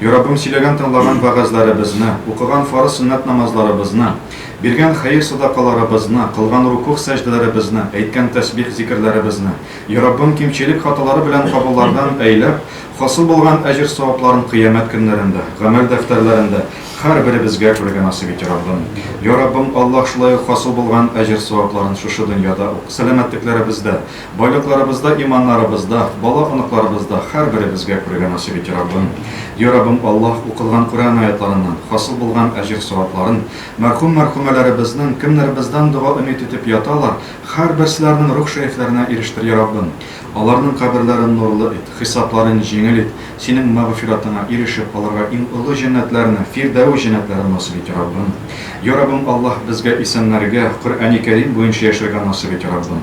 Яраббым, сөйләгән-тыңлаган вәгазьләребезне, укыган фарыз-сөннәт намазларыбызны, биргән хәер-садакаларыбызны, кылган рукугъ-сәҗдәләребезне, әйткән тәсбих-зикерләребезне, яраббым, кимчелек-хаталары белән кабуллардан әйләп, хасыл булган әҗер-савапларын кыямәт көннәрендә, гамәл дәфтәрләрендә һәрберебезгә күрергә насыйп ит, яраббым. Яраббым, Аллаһ, шулай ук хасыл булган әҗер-савапларын шушы дөньяда ук, сәламәтлекләребездә, Байлыкларыбызда иманнарыбызда, бала оныкларыбызда хәрберебезгә күрергә насыйп ите Раббым. Йа Раббым Аллаһ, укылган Курәан аятьларыннан хасыл булган әҗер-савапларын, мәрхүм мәрхүмәләребезнең кемнәр бездән дога өмит итеп яталар, хәрберселәрнең рух шәефләренә ирештер Йа Раббым. Аларның каберләрен нурлы ит, хисапларын җиңел ит, Синең мәгъфиратыңа ирешеп алырга иң олы җәннәтләрне, фирдәүс җәннәтләрен насыйп ит Йа Раббым. Йа Раббым Аллаһ безгә исәннәргә, Коръәни Кәрим буенча яшәргә насыйп ит Йа Раббым.